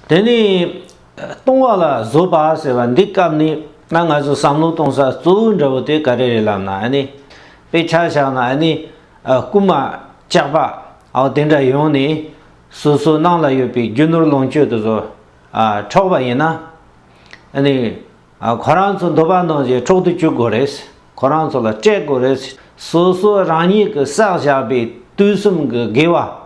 དེ་ནི། ལྟུང་བ་ལ་བཟོད་པ་ཟེར་བ་འདི་སྐབས་ནི་ན་ང་ཚོ་བསམ་བློ་གཏོང་ས་གཙོ་བོའི་འདྲ་བོ་དེ་ག་རེ་རེད་ལབ་ན་ཨ་ནི། དཔེ་ཆ་བཞག་ན་ཨ་ནི། རྐུན་མ། ལྕགས་པ། ཨའོ་དེ་འདྲ་ཡོང་ནས། སོ་སོའི་ནང་ལ་ཡོད་པའི་རྒྱུ་ནོར་ལོངས་སྤྱོད་དུ་བཟོ། འཕྲོག་པ་ཡིན་ན། ཨ་ནི། ཁོ་རང་ཚོ་འདོད་པ་ནོར་རྗེས་འཕྲོག་ཏུ་བཅུག་དགོས་རེད། ཁོ་རང་ཚོ་ལ་སྤྲད་དགོས་རེད། སོ་སོ་རང་ཉིད་ཀྱི་བསགས་བཞག་པའི་དུས་གསུམ་གྱི་དགེ་བ།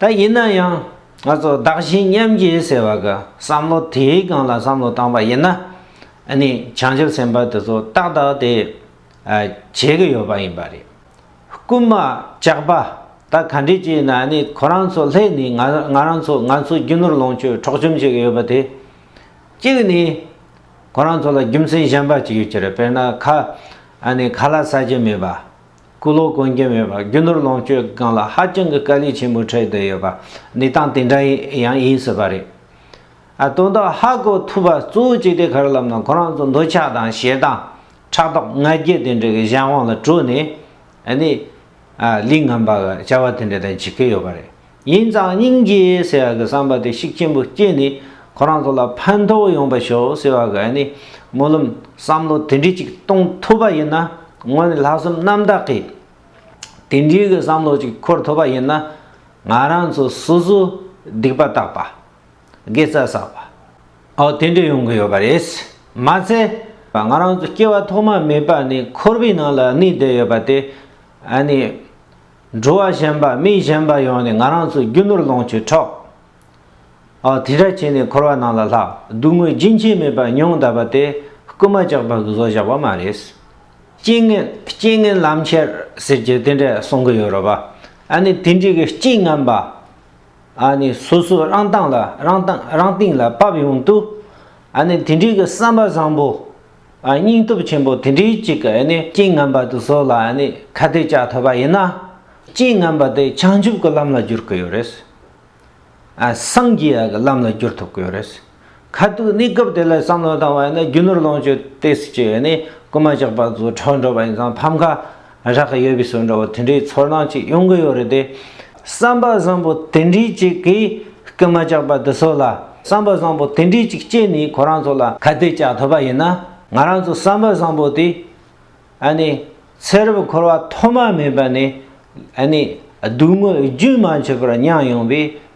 ད་ཡིན་ན་ཡང་ང་ཚོ་བདག་གཞན་མཉམ་བརྗེ་ཟེར་བ་གི་བསམ་བློ་དེའི་སྒང་ལ་བསམ་བློ་བཏང་པ་ཡིན་ན་ནི་བྱང་ཆུབ་སེམས་དཔའ་དེ་ཚོ་ཏག་ཏག་དེ་བྱེད་གི་ཡོད་པ་ཡིན་པ་རེད། རྐུན་མ་ལྕགས་པ་ད་ག་འདྲས་བྱས་ན་ནི་ཁོ་རང་ཚོ་ལྷས་ནི་ང་ང་རང་ཚོ་ང་ཚོ་རྒྱུ་ནོར་ལོངས་སྤྱོད་འཕྲོག་བཅོམ་བྱེད་གི་ཡོད་པ་དེ་གཅིག་ནི་ཁོ་རང་ཚོ་ལ་རྒྱུ་མཚན་གཞན་པ་གཅིག་ཡོད་ཀྱི་རེད་དཔེར་ན་ཁ་ནི་ཁ་ལ་ཟ་གྱི་མེད་པ། སྐུ་ལོ་གོན་གྱི་མེད་པར་རྒྱུ་ནོར་ལོངས་སྤྱོད་སྒང་ལ་ཧ་ཅང་གི་དཀའ་ལས་ཆེན་པོ་འཕྲད་བསྡད་ཡོད་པ་ནི་སྟངས་དེ་འདྲ་ཡང་ཡིན་སྲིད་པ་རེད། ཨ་དོན་དག་ཧ་གོ་ཐུབ་པ་གཙོ་བོ་ཅི་སྟེ་གར་ལམ་ན་ཁོ་རང་ཚོ་འདོད་ཆགས་དང་ཞེ་སྡང། ཕྲག་དོག་ང་རྒྱལ་དེ་འདྲ་གི་གཞན་དབང་ལ་གྲོལ་ནས་ནི། ལིང་ངམ་པ་བྱ་བ་དེ་འདྲ་དང་བྱེད་ཀྱི་ཡོད་པ་རེད། ཡིན་ཙང་སྙིང་རྗེ་ཟེར་བ་གི་བསམ་པ་དེ་བཤིག་ཆེན་པོ་སྐྱེས་ནས་ཁོ་རང་ཚོ་ལ་ཕན་ཐོག་ཡོང་པ་ཤོག་ཟེར་བ་གི་ནི་སྨོན་ལམ་བསམ་བློ་དེ་འདྲི་ཅིག་གཏོང་ཐུབ་པ་ཡིན་ན་ངོས་ནས་ལྷག་བསམ་རྣམ་དག་གིས་དེ་འདྲི་གི་བསམ་བློ་ཅིག་འཁོར་ཐུབ་པ་ཡིན་ན་ང་རང་ཚོ་སོ་སོ་སྡིག་པ་བཏགས་པ། དགེ་རྩ་བསགས་པ། འོ་དེ་འདྲི་ཡོང་གི་ཡོད་པ་རེད། མ་ཚད་ང་རང་ཚོ་སྐྱེ་བ་ཐོག་མ་མེད་པ་ནས་འཁོར་བའི་ནང་ལ་གནས་བསྡད་ཡོད་པ་དེ་ནི། འགྲོ་བ་གཞན་པ་མི་གཞན་པ་ཡོང་ནས་ང་རང་ཚོ་རྒྱུ་ནོར་ལོངས་སྤྱོད་འཕྲོག་ཨོ་དེ་འདྲ་བྱས་ནས་འཁོར་བ་ནང་ལ་ལྷག་སྡུག་བསྔལ་རྒྱུན་ཆད་མེད་པ་མྱོང་གདའ་པ་དེ་རྐུ་མ་བཅག་པ་གི་བཟོ་བཞག་པ་མ་རེད། རྐྱེན་ངན་རྐྱེན་ངན་ལམ་ཁྱེར་ཟེར་གྱི་དེ་འདྲས་གསུང་གི་ཡོད་རོ་བ་ཨ་ནི་དེ་འདྲས་གི་རྐྱེན་ངན་པ་ཨ་ནི་སོ་སོ་རང་སྟངས་ལ་རང་སྟངས་རང་སྟེང་ལ་བབས་ཡོང་དུས་ཨ་ནི་དེ་འདྲས་གི་བསམ་པ་བཟང་པོ། སྙིང་སྟོབས་ཆེན་པོ་དེ་འདྲའི་ཅིག་གིས་ནི་རྐྱེན་ངན་པ་དུ་སོགས་ལ་ནི་ཁ་གཏད་བཅག་ཐུབ་པ་ཡིན་ན། རྐྱེན་ངན་པ་དེ་བྱང་ཆུབ་ཀྱི་ལམ་ལ་བསྒྱུར་གི་ཡོད་རེད། སངས་རྒྱས་ཀྱི་ལམ་ལ་བསྒྱུར་ཐུབ་ཀྱི་ཡོད་རེད། ཁ་ཐུག་གནས་སྐབས་དེ་ལ་བསམ་བློ་བཏང་བ་ཡིན་ན་རྒྱུ་ནོར་ལོངས་སྤྱོད་ལྟས་སུ་བྱས་ནས་རྐུན་མ་ཅག་པ་ཚོ་ཁྲག་འགྲོ་བ་ཡིན་ཙང་ཕམ་ཁ་རག་གི་ཡོད་པའི་སོ་འདྲ་བོ་དེ་འདྲའི་ཚོར་སྣང་ཅིག་ཡོང་གི་ཡོད་རེད་དེ། བསམ་པ་བཟང་པོ་དེ་འདྲའི་ཅིག་གིས་སྐུལ་མ་བཅག་པ་འདི་ཚོ་ལ་བསམ་པ་བཟང་པོ་དེ་འདྲའི་ཅིག་སྐྱེས་ནས་ཁོ་རང་ཚོ་ལ་ཁ་གཏད་བཅག་ཐུབ་པ་ཡིན་ན་ང་རང་ཚོ་བསམ་པ་བཟང་པོ་དེ་ཨ་ནི་ཚེ་རབས་འཁོར་བ་ཐོག་མ་མེད་པ་ནས་ཨ་ནི་སྡུག་བསྔལ་རྒྱུན་མ་ཆད་པར་མྱངས་ཡོང་བའི་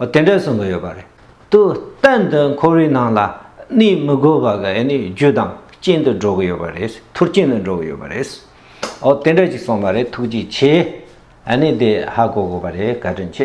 དེ་འདྲ་གསུངས་གི་ཡོད་པ་རེད། དུ་གཏན་དུ་འཁོར་བའི་ནང་ལ་གནས་མི་དགོས་པ་ག་ནི་རྒྱུ་དང་རྐྱེན་དུ་འགྲོ་གི་ཡོད་པ་རེད། མཐུ་རྐྱེན་དུ་འགྲོ་གི་ཡོད་པ་རེད། འོ་དེ་འདྲ་ཅིག་གསུངས་པ་རེད་ཐུགས་རྗེ་ཆེ། ཨ་ནི་དེ་ཧ་གོ་དགོས་པ་རེད་བཀའ་དྲིན་ཆེ།